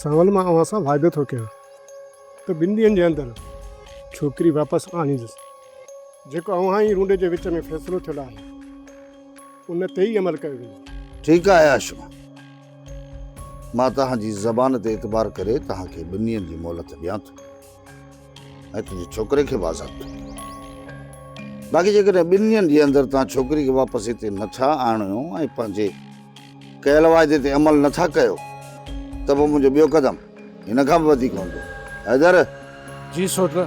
ساول مان اوهان سان وعدو ٿو ڪيان ته ٻن ڏينهن جي اندر ڇوڪري واپس آڻيندس جيڪو اوهان جي رونڊي جي وچ ۾ فيصلو ٿيل آهي ان تي ئي عمل ڪيو ويندو ٺيڪ آهي عاشق مان توهان جي زبان تي اعتبار ڪري توهان کي ٻن ڏينهن جي مهلت ڏيان ٿو ۽ تنهنجي ڇوڪري کي به آزاد ڪندو. باقي جيڪڏهن ٻن ڏينهن جي اندر توهان ڇوڪري کي واپس هتي نه ٿا آڻيو ۽ پنهنجي ڪيل واعدي تي عمل نه ٿا ڪيو ته پوء منهنجو ٻيو قدم هن کان به وڌيڪ هوندو. حيدر! جي سوٽر!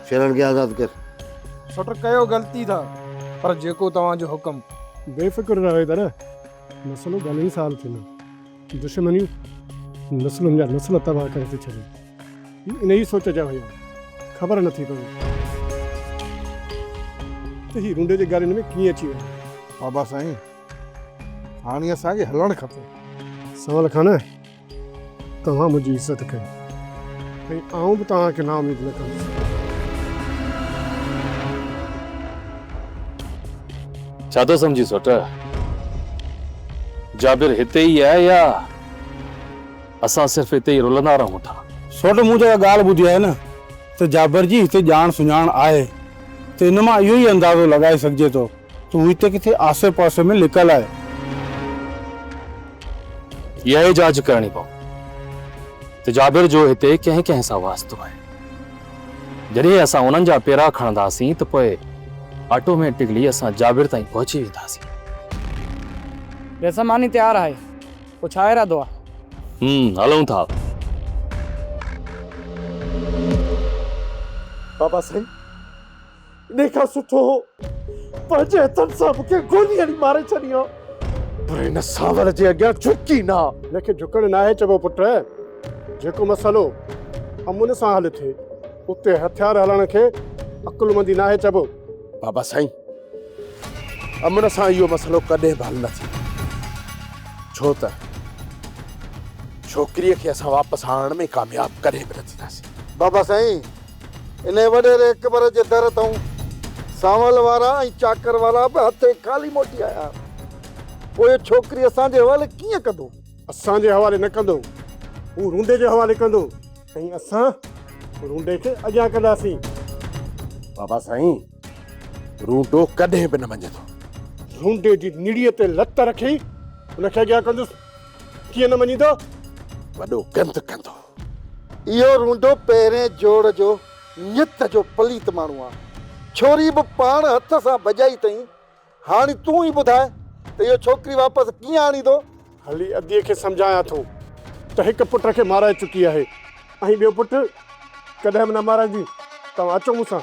شيرل کي آزاد ڪر. سوٽر ڪيو غلطي ٿا پر جيڪو توهان جو حڪم. بي فڪر رهه حيدر! مسئلو گهڻي سال ٿيندو. دشمنيون نسلن جا نسل تباهه ڪري ٿي ڇڏين. هي انهيء سوچ جا هيا. خبر نه ٿي پوي ته هي رونڊي جي ڳالهين ۾ ڪيئن اچي ويا. بابا سائين هاڻي اسان کي هلڻ کپي. سنوال خان توهان منهنجي عزت ڪئي ۽ آئون به توهان کي نااميد نه ڪندس. ڇا ٿو سمجهين سؤٽ؟ جابر هتي ئي آهي يا اسان صرف هتي ئي رلندا رهون ٿا؟ سؤٽ مون جيڪا ڳالهه ٻڌي آهي نه ته جابر جي هتي ڄاڻ سڃاڻ آهي ته ان مان اهو ئي اندازو لڳائي سگهجي ٿو ته هو هتي ڪٿي آسي پاسي ۾ لڪل آهي. اها ئي جاچ ڪرڻي پوندي ته جابر جو هتي ڪنهن ڪنهن سان واسطو آهي. جڏهن اسان انهن جا پيرا کڻنداسين ته پوء آٽوميٽڪلي اسان جابر تائين پهچي وينداسين. ويسا ماني تيار آهي، پوء ڇا ارادو آهي؟ هم، هلون ٿا. بابا سائين! انهي کان سٺو هو پنهنجي هٿن سان مون کي گولي هڻي ماري ڇڏي ها. پر هن سانوڻ جي اڳيان جهڪ ئي نه ها. هن کي جهڪڻ ناهي چئبو پٽ. جيڪو مسئلو امن سان حل ٿئي اتي هٿيار هلڻ کي عقلمندي ناهي چئبو. بابا سائين امن سان اهو مسئلو ڪڏهن به حل نه ٿيندو. ڇو ته ڇوڪريء کي اسان واپس آڻڻ ۾ ڪامياب ڪڏهن به نه ٿينداسين. بابا سائين انهيء وڏيري اڪبر جي در تائون سانول وارا ۽ چاڪر وارا به هٿين خالي موٽي آيا. پوء ڇوڪري اسان جي حوالي ڪيئن ڪندو؟ اسان جي حوالي نه ڪندو. هو رونڊي جي حوالي ڪندو ۽ اسان رونڊي کي اڳيان ڪنداسين. بابا سائين، رونڊو ڪڏهن به نه مڃيندو. رونڊي جي نڙيء تي لت رکي ان کي اڳيان ڪندس. ڪيئن نه مڃيندو؟ وڏو گند ڪندو. اهو رونڊو پهرين جوڙ جو نيت جو پليت ماڻهو آ. ڇوري به پاڻ هٿ سان ڀڄائي تئين. هاڻي تون ئي ٻڌاء ته اهو ڇوڪري واپس ڪيئن آڻيندو؟ هلي ادي کي سمجهايان ٿو ته هڪ پٽ کي مارائي چڪي آهي ۽ ٻيو پٽ ڪڏهن به نه مارائيندي. توهان اچو مون سان.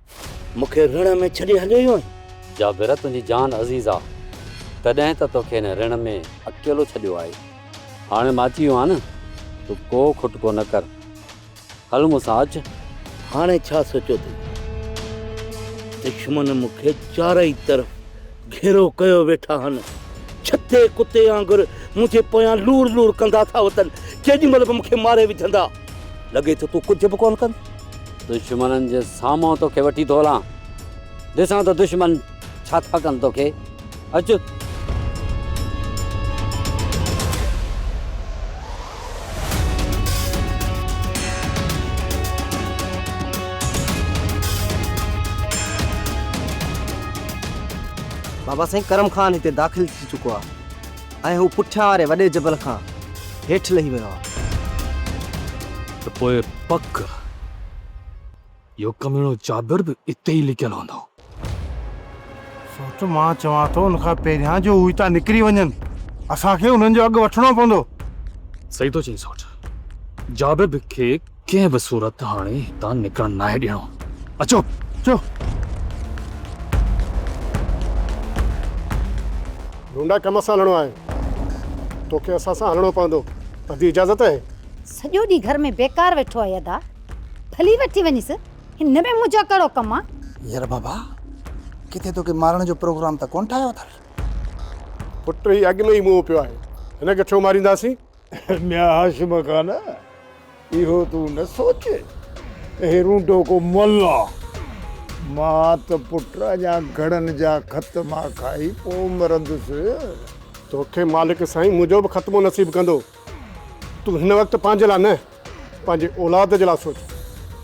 مون کي رڻ ۾ ڇڏي هليو ويو آهين. جابر تنهنجي جان عزيز آ تڏهن ته توکي هن رڻ ۾ اڪيلو ڇڏيو آهي هاڻي مان اچي ويو آهيان نه تون ڪو کٽڪو نه ڪر هل مون سان اچ. هاڻي ڇا سوچيو اٿئي دشمن مون کي چارئي طرف گهيرو ڪيو ويٺا آهن ڇتي ڪتي آنگر منهنجي پويان لوڙ لوڙ ڪندا ٿا وتن ڪيڏي مهل به مون کي ماري وجهندا. لڳي ٿو تون ڪجهه به ڪونه ڪندين. دشمنن جي سامهون توکي وٺي ٿو هلان. ڏسان ته دشمن ڇا ٿا ڪن توکي. اچ. بابا سائين ڪرم خان هتي داخل ٿي چڪو آهي. ۽ هو پٺيان واري وڏي جبل کان هيٺ لهي ويو آهي. ته پوء پڪ اهو ڪميڻو جابر به اتي ئي لڪيل هوندو. سوچ مان چوان ٿو ان کان پهريان جو هو هتان نڪري وڃن اسان کي انهن جو اڳ وٺڻو پوندو. صحيح ٿو چئين سوٽ. جابر به کي ڪنهن به صورت هاڻي هتان نڪرڻ ناهي ڏيڻو. اچو، اچو. ڍونڍا ڪم سان هلڻو آهي. توکي اسان سان هلڻو پوندو. ادي اجازت اهي. سڄو ڏينهن گهر ۾ بيڪار ويٺو آهي ادا. ڀلي وٺي وڃيس. هن ۾ منهنجو ڪهڙو ڪم آهي. يار بابا ڪٿي توکي مارڻ جو پروگرام ته ڪونه ٺاهيو اٿن. پٽ هي اڳ ۾ ئي موهه پيو آهي. هن کي ڇو مارينداسين. ميان هاشم خان اهو تون نه سوچ هي رونڊو ڪو ملا مان ته پٽ اڃا گهڙن جا ختما کائي پو مرندس. توکي مالڪ سائين منهنجو به ختمو نصيب ڪندو تون هن وقت پنهنجي لاء نه پنهنجي اولاد جي لاء سوچ.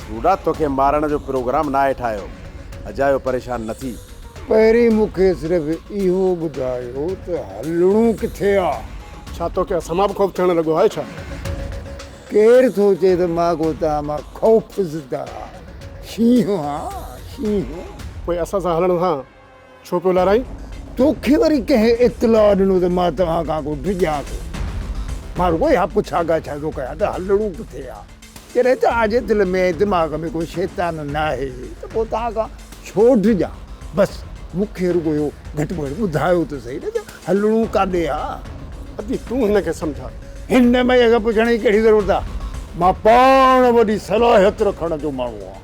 روڊا توکي مارڻ جو پروگرام ناهي ٺاهيو اجايو پريشان نه ٿي. پهرين مون کي صرف اهو ٻڌايو ته هلڻو ڪٿي آ. ڇا توکي اسان مان به خوف ٿيڻ لڳو آهي ڇا؟ ڪير ٿو چئي ته مان ڪو توهان مان خوفزده شينهن آ شينهن. پوء اسان سان هلڻ سان ڇو پيو لارائين؟ توکي وري ڪنهن اطلاع ڏنو ته مان توهان کان ڪو ڊڄان ٿو؟ مان رڳو اها پڇا ڳاڇا ٿو ڪيان ته هلڻو ڪٿي آ؟ جڏهن توهان جي دل ۾ ۽ دماغ ۾ ڪو شيطان ناهي ته پوء توهان کان ڇو ڊڄان؟ بس مون کي رڳو اهو گهٽ ۾ گهٽ ٻڌايو ته سهي نه ته هلڻو ڪاڏي آ؟ ادي تون هن کي سمجهاء. هن مئي کي پڇڻ جي ڪهڙي ضرورت آ؟ مان پاڻ وڏي صلاحيت رکڻ جو ماڻهو آهيان.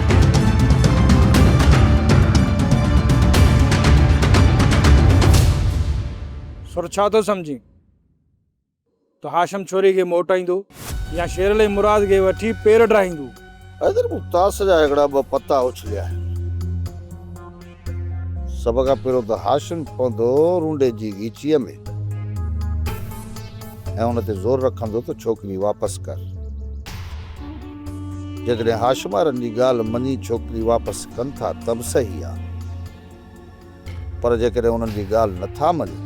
سر ڇا ٿو سمجهين ته هاشم ڇوري کي موٽائيندو يا شيرعلي مراد کي وٺي پير ڊاهيندو. حيدر مون تاس جا هڪڙا ٻه پتا اڇليا آهن. سڀ کان پهريون ته هاشم پوندو رونڊي جي غيچيء ۾ ۽ ان تي زور رکندو ته ڇوڪري واپس ڪر. جيڪڏهن هاشم وارن جي ڳالهه مڃي ڇوڪري واپس ڪن ٿا ته به صحيح آ پر جيڪڏهن انهن جي ڳالهه نه ٿا مڃن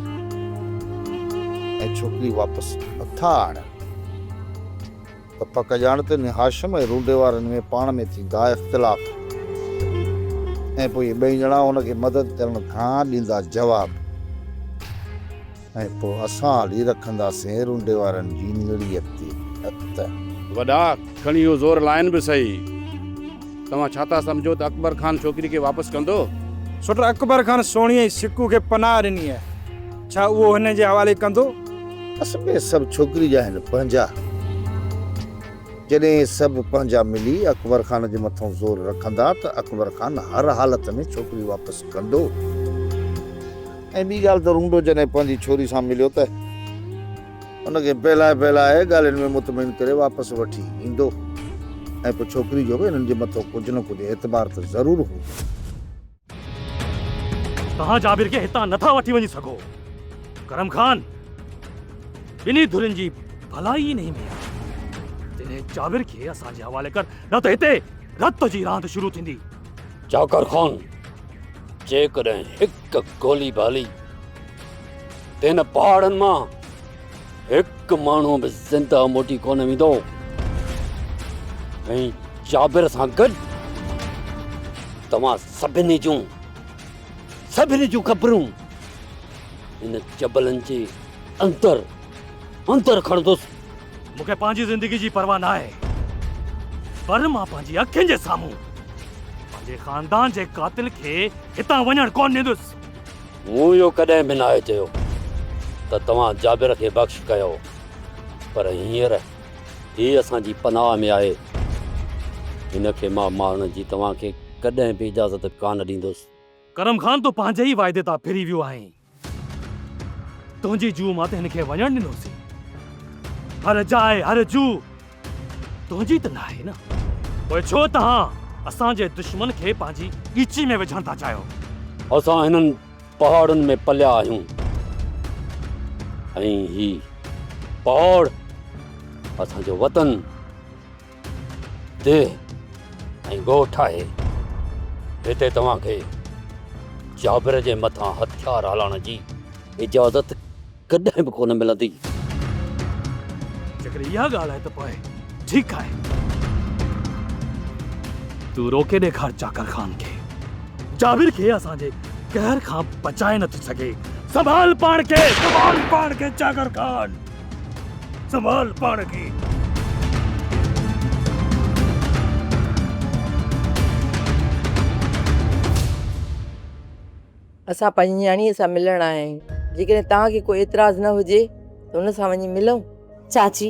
۽ ڇوڪري واپس نه ٿا آڻن ته پڪ ڄاڻ ته ني هاشم ۽ رونڊي وارن ۾ پاڻ ۾ ٿيندا اختلاف ۽ پوء اهي ٻئي ڄڻا هن کي مدد ڪرڻ کان ڏيندا جواب ۽ پوء اسان هلي رکنداسين رونڊي وارن جي نڙيء تي هٿ. وڏا، کڻي اهو زور لائن به سهي. توهان ڇا ٿا سمجهو ته اڪبر خان ڇوڪري کي واپس ڪندو؟ سوٽ، اڪبر خان سهڻيء سڪو کي پناهه ڏني آهي، ڇا اهو هن جي حوالي ڪندو؟ اصل ۾ سڀ ڇوڪري جا آهن پنهنجا. جڏهن سڀ پنهنجا ملي اڪبر خان جي مٿان زور رکندا ته اڪبر خان هر حالت ۾ ڇوڪري واپس ڪندو ۽ ٻي ڳالهه ته رونڊو جڏهن پنهنجي ڇوري سان مليو ته ان کي بهلائي بهلائي ڳالهين ۾ مطمئن ڪري واپس وٺي ايندو ۽ پوء ڇوڪري جو به هنن جي مٿان ڪجهه نه ڪجهه اعتبار ته ضرور هوندو. توهان جابر کي هتان نٿا وٺي وڃي سگهو ڪرم خان ٻنهي ڌرين جي ڀلائي ان ۾ جڏهن جابر کي اسان جي حوالي ڪر نه ته هتي رت جي راند شروع ٿيندي جاکر خان جيڪڏهن هڪ گولي بالي تن پهاڙن مان هڪ ماڻهو به زنده موٽي ڪونه ويندو ۽ جابر سان گڏ توهان سڀني جون سڀني جون قبرون ان جبلن جي اندر اندر کڻندس مونکي پنهنجي زندگي جي پرواهه نه آهي پر مان پنهنجي اکين جي سامهون پنهنجي خاندان جي قاتل کي هتان وڃڻ ڪونه ڏيندس مون اهو ڪڏهن به ناهي چيو ته توهان جابر کي بخش ڪيو پر هينئر هي اسان جي پناهه ۾ آهي. هن کي مان مارڻ جي توهان کي ڪڏهن به اجازت ڪانه ڏيندس. ڪرم خان تون پنهنجي ئي واعدي تان ڦري ويو آهين. تنهنجي جوء مان ته هن کي وڃڻ ڏنوسين. هر جاء هر جوء. تنهنجي ته ناهي نه، پوء ڇو توهان اسان جي دشمن کي پنهنجي ڳچي ۾ وجهڻ ٿا چاهيو؟ اسان هنن پهاڙن ۾ پليا آهيون ۽ هي پهاڙ اسان جو وطن، ديهه ۽ ڳوٺ آهي. هتي توهان کي جابر جي مٿان هٿيار هلائڻ جي اجازت ڪڏهن به ڪونه ملندي. جيڪڏهن اها ڳالهه آهي ته پوء ٺيڪ آهي. تون روڪي ڏيکار چاڪر خان کي. جابر کي اسان جي قهر کان بچائي نٿو سگهي. سنڀال پاڻ کي. سنڀال پاڻ کي چاڪر خان. سنڀال پاڻ کي. اسان پنهنجي نياڻيء سان ملڻ آيا آهيون. جيڪڏهن توهان کي ڪو اعتراض نه هجي ته هن سان وڃي ملون؟ چاچي،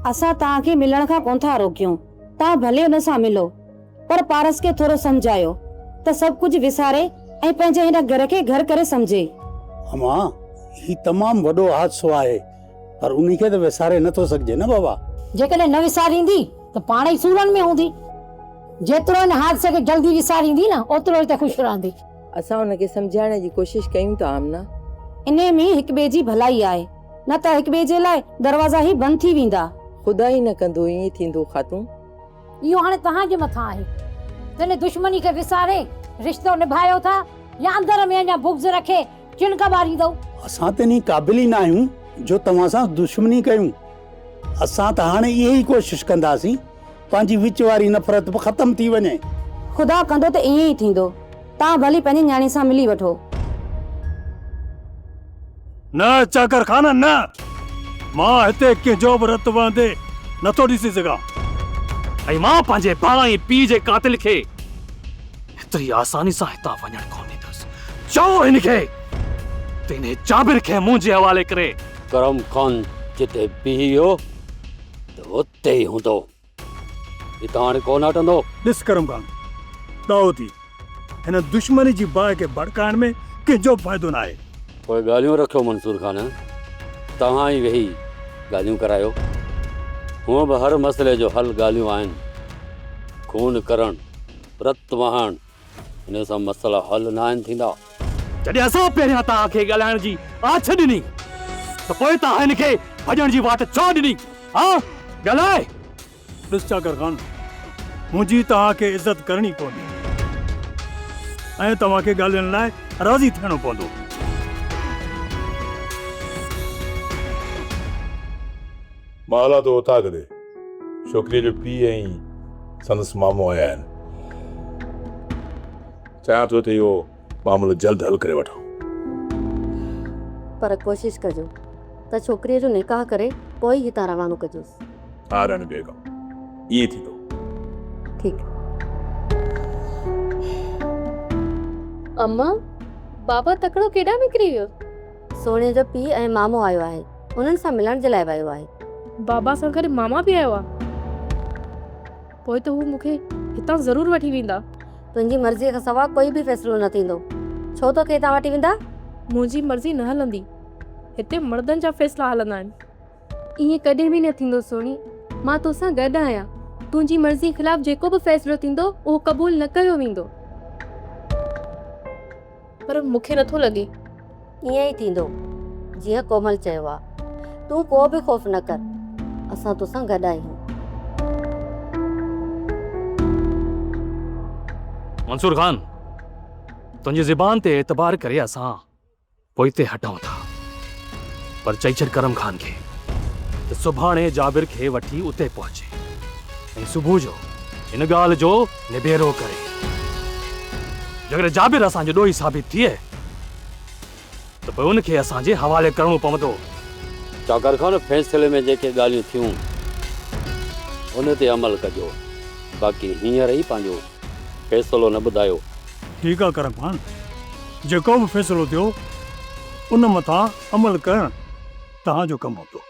اسان توهان کي ملڻ کان ڪونه ٿا روڪيون. توهان ڀلي هن سان ملو. پر پارس کي ٿورو سمجهايو ته سڀ ڪجهه وساري ۽ پنهنجي هن گهر کي گهر ڪري سمجهي. اما، هي تمام وڏو حادثو آهي، پر انهي کي ته وساري نه ٿو سگهجي نه بابا. جيڪڏهن نه وساريندي ته پاڻ ئي سورن ۾ هوندي. جيترو هن حادثي کي جلدي وساريندي نه، اوترو ئي ته خوش رهندي. اسان ان کي سمجهائڻ جي ڪوشش ڪيون ٿا آمنه. انهي ۾ هڪ ٻئي جي ڀلائي آهي. نه ته هڪ ٻئي جي لاء دروازا ئي بند ٿي ويندا. خدا ئي نه ڪندو ائين ٿيندو خاتون. اهو هاڻي توهان جي مٿان آهي ته ان دشمني کي وساري رشتو نڀايو ٿا يا اندر ۾ اڃا بغض رکي چڻڪ ٻاريندؤ. اسان ته انهي قابل ئي نه آهيون جو توهان سان دشمني ڪيون. اسان ته هاڻي اهي ئي ڪوشش ڪنداسين. پنهنجي وچ واري نفرت به ختم ٿي وڃي. خدا ڪندو ته ائين ئي ٿيندو. توهان ڀلي پنهنجي نياڻي سان ملي وٺو. نه چاڪر خان نه! مان هتي ڪنهن جو به رت وهندي نه ٿو ڏسي سگهان. ۽ مان پنهنجي ڀاء ۽ پيء جي قاتل کي ايتري آساني سان هتان وڃڻ ڪونه ڏيندس. چئو هن کي ته انهي جابر کي منهنجي حوالي ڪري. ڪرم خان جتي بيهي هو ته ات. تي ئي هوندو. هتان هاڻي ڪو نه هٽندو. ڏس ڪرم خان، ڏاهو ٿي. هن دشمني جي باهه کي ڀڙڪائڻ ۾ ڪنهن جو به فائدو نه آهي. پوء ڳالهيون رکيو منصور خان. توهان ئي ويهي ڳالهيون ڪرايو. هونء به هر مسئلي جو حل ڳالهيون آهن. خون ڪرڻ، رت وهائڻ، ان سان مسئلا حل ناهن ٿيندا. جڏهن اسان پهريان توهان کي ڳالهائڻ جي آڇ ڏني ته پوء توهان هن کي ڀڄڻ جي واٽ ڇو ڏني؟ ها ڳالهاء! ڏس چاڪر خان، منهنجي توهان کي عزت ڪرڻي پوندي ۽ توهان کي ڳالهين لاء راضي ٿيڻو پوندو. مان هلان ٿو اوطاق ڏي. ڇوڪريء جو پيء ۽ سندس مامو آيا آهن. چاهيان ٿو ته اهو معاملو جلد حل ڪري وٺان. پر ڪوشش ڪجو ته ڇوڪريء جو نڪاح ڪري پوء ئي هتان روانو ڪجوس. ها راڻي بيگم، ائين ئي ٿيندو. ٺيڪ. امان، بابا تڪڙو ڪيڏانهن نڪري ويو؟ سهڻيء جو پيء ۽ مامو آيو آهي. انهن سان ملڻ جي لاء ويو آهي. بابا سان گڏ ماما به آيو آهي. پوء ته هو مون کي هتان ضرور وٺي ويندا. تنهنجي مرضيء کان سواء ڪوئي به فيصلو نه ٿيندو. ڇو توکي هتان وٺي ويندا؟ منهنجي مرضي نه هلندي. هتي مڙدن جا فيصلا هلندا آهن. ائين ڪڏهن به نه ٿيندو سهڻي. مان توسان گڏ آهيان. تنهنجي مرضيء خلاف جيڪو به فيصلو ٿيندو، اهو قبول نه ڪيو ويندو. پر مون کي نٿو لڳي. ائين ئي ٿيندو، جيئن ڪومل چيو آ. تون ڪو به خوف نه ڪر، اسان توسان گڏ آهيون. منصور خان، تنهنجي زبان تي اعتبار ڪري اسان پوئتي هٽون ٿا. پر چئي ڇڏ ڪرم خان کي ته سڀاڻي جابر کي وٺي اتي پهچي ۽ صبح جو هن ڳالهه جو نبيرو ڪري. جيڪڏهن جابر اسان جو ڏوهي ثابت ٿئي ته پوء ان کي اسان جي حوالي ڪرڻو پوندو. چاڪر خان فيصلي ۾ جيڪي ڳالهيون ٿيون ان تي عمل ڪجو باقي هينئر ئي پنهنجو فيصلو نه ٻڌايو. ٺيڪ آ ڪرم خان جيڪو به فيصلو ٿيو ان مٿان عمل ڪرڻ توهان جو ڪم هوندو.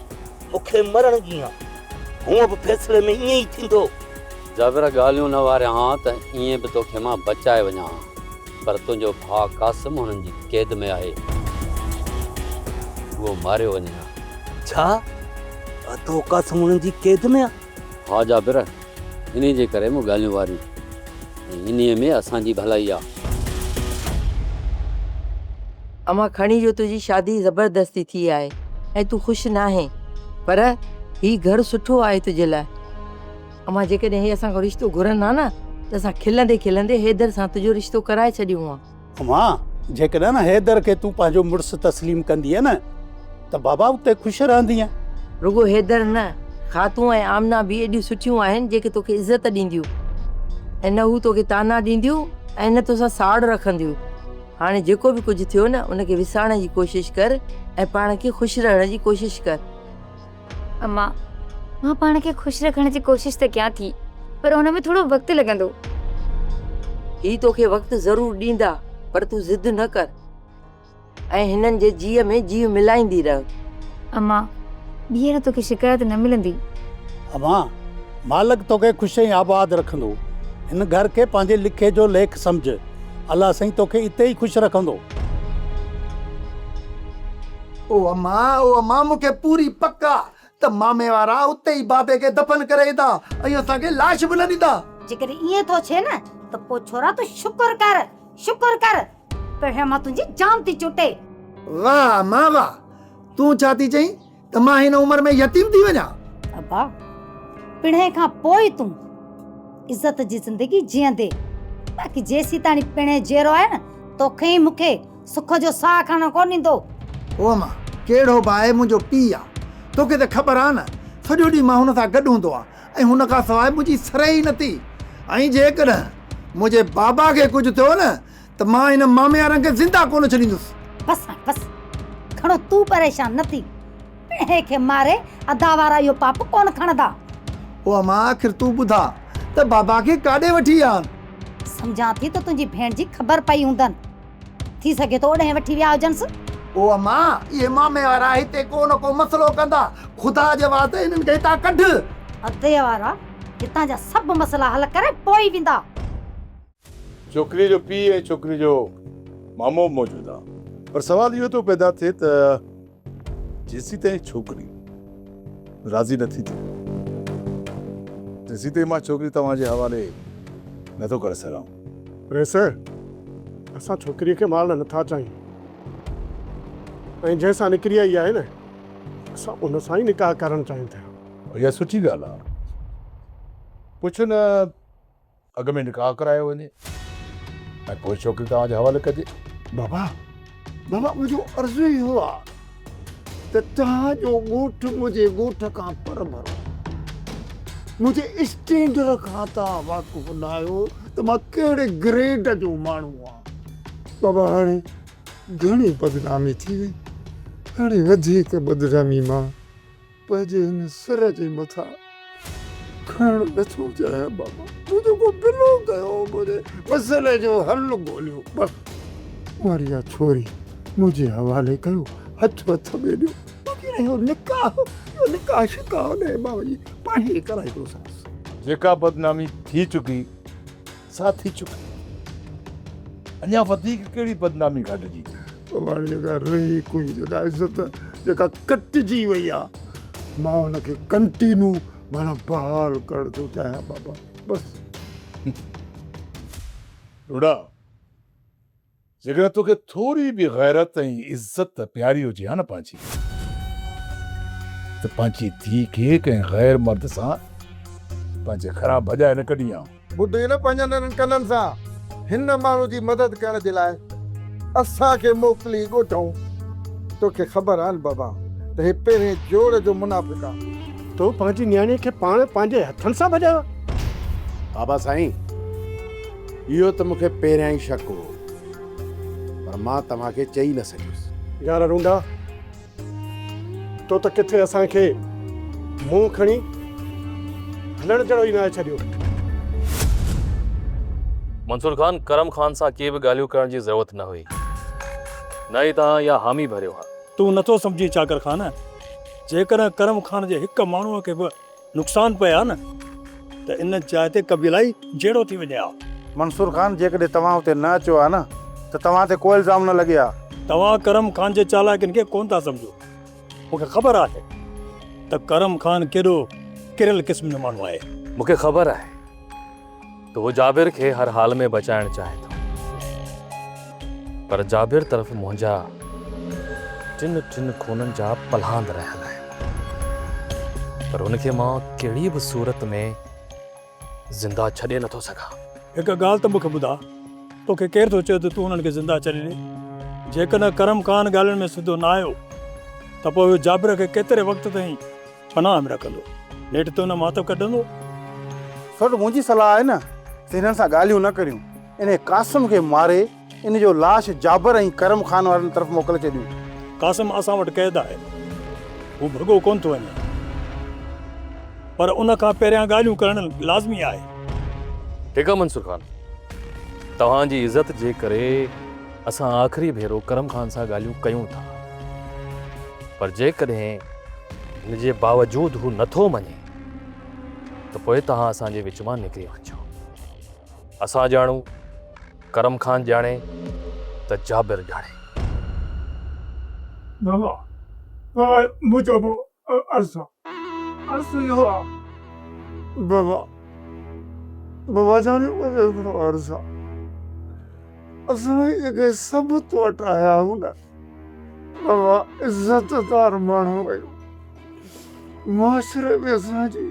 مون کي مرڻ جيان. هونء به فيصلي ۾ ائين ئي ٿيندو. جابر ڳالهيون نه واريان ها ته ائين به توکي مان بچائي وڃان ها. پر تنهنجو ڀاء قاسم هنن جي قيد ۾ آهي. هو ماريو وڃي ها. ڇا؟ تو قاسم هنن جي قيد ۾ آ؟ ها جابر! انهيء جي ڪري مون ڳالهيون واريون ۽ انهيء ۾ اسان جي ڀلائي آ. امان کڻي جو تنهنجي شادي زبردستي ٿي آهي ۽ تون خوش ناهين. پر هي گهر سٺو آهي تنهنجي لاء. امان جيڪڏهن هي اسان کان رشتو گهرن ها نه ته اسان کلندي کلندي حيدر سان تنهنجو رشتو ڪرائي ڇڏيون ها. اما، جيڪڏهن حيدر کي تون پنهنجو مڙس تسليم ڪندينء نه ته بابا اتي خوش رهندينء. رڳو حيدر نه، خاتون ۽ آمنه به ايڏيون سٺيون آهن، جيڪي توکي عزت ڏينديون ۽ نه هو توکي طعنا ڏينديون ۽ نه توسان ساڙ رکنديون. هاڻي جيڪو به ڪجهه ٿيو نه، ان کي وسارڻ جي ڪوشش ڪر ۽ پاڻ کي خوش رهڻ جي ڪوشش ڪر. امان مان پاڻ کي خوش رکڻ جي ڪوشش ته ڪيان ٿي پر ان ۾ ٿورو وقت لڳندو. هي توکي وقت ضرور ڏيندا پر تون ضد نه ڪر ۽ هنن جي جيء ۾ جيء ملائيندي رهه. امان ٻيهر توکي شڪايت نه ملندي. امان مالڪ توکي خوش ۽ آباد رکندو. هن گهر کي پنهنجي لکي جو ليک سمجهه. الله سائين توکي اتي ئي خوش رکندو. او اما او اما مون کي پوري پڪ آ ته مامي وارا اتي ئي بابي کي دفن ڪري ايندا ۽ اسان کي لاش به نه ڏيندا. جيڪڏهن ائين ٿو ٿئي نه ته پوء ڇورا تون شڪر ڪر شڪر ڪر پهريان مان تنهنجي جان ٿي چٽي. واه اما واه تون ڇا ٿي چئين ته مان هن عمر ۾ يتيم ٿي وڃان. ابا پڻهين کان پوء ئي تون عزت جي زندگي جيئندي باقي جيسيتاڻي پڻهين جيئرو آهي نه توکي ۽ مون کي سک جو ساهه کڻڻ ڪونه ڏيندو. او امان! ڪهڙو به آهي منهنجو پيء آ. توکي ته خبر آ نه سڄو ڏينهن مان هن سان گڏ هوندو آ ۽ هن کان سواء منهنجي سرهي ئي نٿي ۽ جيڪڏهن منهنجي بابا کي ڪجهه ٿيو نه ته مان هن ماميارن کي زنده ڪونه ڇڏيندس. بس هاڻي بس. گهڻو تون پريشان نه ٿي. پڻهين کي ماري ادا وارا اهو پاپ ڪونه کڻندا. او امان! آخر تون ٻڌاء ته بابا کي ڪاڏي وٺي آن؟ سمجهان ٿي ته تنهنجي ڀيڻ جي خبر پئي هوندن. ٿي سگهي ٿو اوڏهين وٺي ويا هجنس. او امان! اهي مامي وارا هتي ڪو نه ڪو مسئلو ڪندا. خدا جي واسطي هنن کي هتان ڪڍ. ادي وارا هتان جا سڀ مسئلا حل ڪري پوء ئي ويندا. ڇوڪريء جو پيء ۽ ڇوڪريء جو مامو به موجود آ. پر سوال اهو ٿو پيدا ٿئي ته. جيسين تائين ڇوڪري راضي نه ٿيندي تيسين تائين مان ڇوڪري توهان جي حوالي نه ٿو ڪري سگهان. پريسر، اسان ڇوڪريء کي مارڻ نه ٿا چاهيون ۽ جنهن سان نڪري آئي آهي نه اسان ان سان ئي نڪاح ڪرڻ چاهيون ٿا. اها سٺي ڳالهه آهي. پڇ نه. اڳ ۾ نڪاح ڪرايو وڃي ۽ پوء ڇوڪري توهان جي حوالي ڪجي. بابا، بابا منهنجو عرض ئي اهو آ ته توهان جو ڳوٺ منهنجي ڳوٺ کان پر ڀرو آ. منهنجي اسٽينڊر کان توهان واقف ناهيو ته مان ڪهڙي گريڊ جو ماڻهو آ. بابا هاڻي گهڻي بدنامي ٿي وئي. هاڻي وڌيڪ بدنامي مان. پنهنجي هن سر جي مٿان کڻڻ نه ٿو چاهيان بابا تو جيڪو بلو ڪيو هو منهنجي مسئلي جو حل ڳوليو بس مون اها ڇوري منهنجي حوالي ڪيو هٿ وٿ ۾ ڏيو باقي رهيو نڪاح اهو نڪاح شڪاح نه بابا جي پاڻهي ڪرائيندوسانس. جيڪا بدنامي ٿي چڪي. سا ٿي چڪي. اڃا وڌيڪ ڪهڙي بدنامي گهٽجي؟ تو وٽ جيڪا رهي ڪوئي جيڪا عزت جيڪا ڪٽجي وئي آ مان ان کي ڪنٽينو معنيٰ بحال ڪرڻ ٿو چاهيان بابا بس. ڏوڏا! جيڪڏهن توکي ٿوري به غيرت ۽ عزت پياري هجي ها نه پنهنجي ته پنهنجي ڌيء کي ڪنهن غير مرد سان پنهنجي گهران ڀڄائي نه ڪڍين ها. ٻڌئي نه پنهنجن انهن ڪنن سان هن ماڻهو جي مدد ڪرڻ جي لاء اسان کي موڪلي ڳوٺئون. توکي خبر آهن بابا ته هي پهرين جوڙ جو منافق آ. تو پنهنجي نياڻي کي پاڻ پنهنجي هٿن سان ڀڄايو آ؟ بابا سائين! اهو ته مون کي پهريان ئي شڪ هو پر مان توهان کي چئي نه سگهيس. يار رونڊا تو ته ڪٿي اسان کي منهن کڻي هلڻ جهڙو ئي ناهي ڇڏيو. منصور خان، ڪرم خان سان ڪي به ڳالهيون ڪرڻ جي ضرورت نه هئي. نه ئي توهان اها حامي ڀريو ها. تون نٿو سمجهين چاڪر خان، جيڪڏهن ڪرم خان جي هڪ ماڻهوء کي به نقصان پئي ها نه ته ان جاء تي قبيلائي جهيڙو ٿي وڃي ها. منصور خان جيڪڏهن توهان اتي نه اچو ها نه ته توهان تي ڪو الزام نه لڳي ها. توهان ڪرم خان جي چالاڪين کي ڪونه ٿا سمجهو. مون کي خبر آهي ته ڪرم خان ڪيڏو ڪريل قسم جو ماڻهو آهي. مون کي خبر آهي. ته هو جابر کي هر حال ۾ بچائڻ چاهي ٿو پر جابر طرف منهنجا ٽن ٽن خونن جا پلهاند رهيل آهن پر هن کي مان ڪهڙي به صورت ۾ زنده ڇڏي نٿو سگهان. هڪ ڳالهه ته مون کي ٻڌاء توکي ڪير ٿو چئي ته تون هنن کي زنده ڇڏي ڏي؟ جيڪڏهن ڪرم خان ڳالهين ۾ سڌو نه آيو ته پوء هو جابر کي ڪيتري وقت تائين پناهه ۾ رکندو. نيٺ تون ماتو ڪڍندو. سوٽ منهنجي صلاح آهي نه ته هنن سان ڳالهيون نه ڪريون. انهيء قاسم کي ماري ان جو لاش جابر ۽ ڪرم خان وارن طرف موڪلي ڇڏيون. قاسم اسان وٽ قيد آهي. هو ڀڳو ڪونه ٿو وڃي. پر ان کان پهريان ڳالهيون ڪرڻ لازمي آهي. ٺيڪ آهي منصور خان. توهان جي عزت جي ڪري. اسان آخري ڀيرو ڪرم خان سان ڳالهيون ڪيون ٿا پر جيڪڏهن ان جي باوجود هو نٿو مڃي ته پوء توهان اسان جي وچ مان نڪري وڃو اسان ڄاڻون ڪرم خان ڄاڻي ته جابر ڄاڻي بابا بابا مون چئبو عرض آ. عرض اهو آ. بابا بابا جان مون کي هڪڙو عرض آ. اسان هي جيڪي سبت وٽ آيا آهيون نه بابا عزت دار ماڻهو آهيون معاشري ۾ اسان جي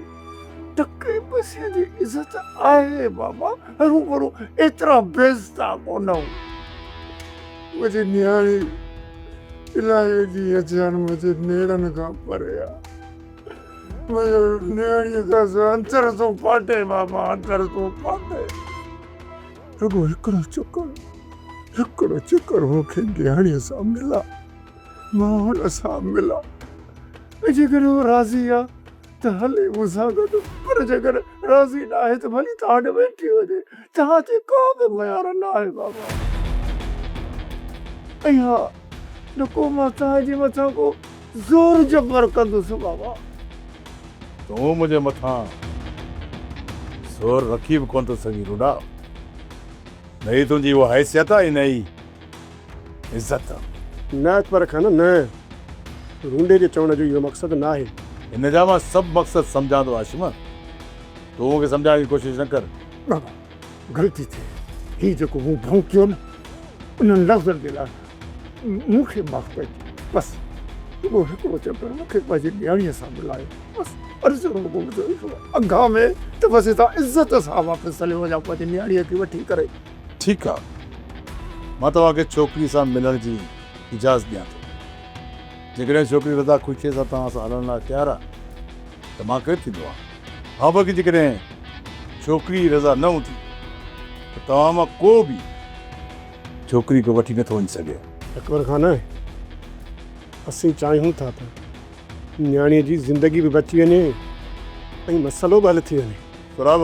ٽڪي پئسي جي عزت آهي بابا، هرون ڀرون ايترا بيزتا ڪونه هئو. منهنجي نياڻي الاهي جي اجهيان منهنجي نيڙن کان پري آ. منهنجو نياڻي کان سواء اندر ٿو ڦاٽي بابا، اندر ٿو ڦاٽي. رڳو هڪڙو چڪر، هڪڙو چڪر مون کي نياڻي سان ملا، مان هن سان ملان ۽ جيڪڏهن هو راضي آ، ته هلي مون سان گڏ، پر جيڪڏهن راضي ناهي ته ڀلي توهان ڏي ويٺي وڃي، توهان تي ڪا به ميار ناهي بابا. ۽ ها، نه ڪو مان توهان جي مٿان ڪو زور جبر ڪندس بابا. تون منهنجي مٿان زور رکي به ڪونه ٿو سگهين روڊا، نه ئي تنهنجي اها حيثيت آهي نه ئي. عزت. نه اچ پر کن نه. رونڊي جي چوڻ جو اهو مقصد ناهي. هن جا مان سڀ مقصد سمجهان ٿو هاشم. تون مون کي سمجهائڻ جي ڪوشش نه ڪر. بابا غلطي ٿي وئي. هي جيڪو مون ڀؤ ڪيو نه انهن لفظن جي لاء مون کي معاف ڪجي. بس رڳو هڪڙو چڪر مون کي پنهنجي نياڻيء سان ملايو. بس عرض رڳو منهنجو اهو آهي. اگهام ته بس هتان عزت سان واپس هليو وڃان پنهنجي نياڻيء کي وٺي ڪري. ٺيڪ آ مان توهان کي ڇوڪري سان ملڻ جي اجازت ڏيان ٿو. جيڪڏهن ڇوڪري رضا خوشيء سان توهان سان هلڻ لاء تيار آ ته مان ڪير ٿيندو آهيان. هان باقي جيڪڏهن ڇوڪري رضا نه هوندي ته توهان مان ڪو به ڇوڪري کي وٺي نٿو وڃي سگهي. اڪبر خان اسين چاهيون ٿا ته نياڻيء جي زندگي به بچي وڃي ۽ مسئلو به حل ٿي وڃي. سهراب!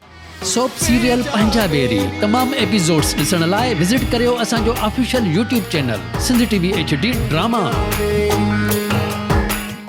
سوپ سيريل پنهنجا بيري تمام ايپيسوڊس ڏسڻ لاء وزٽ ڪريو اسان جو official YouTube channel Sindh T V H D drama.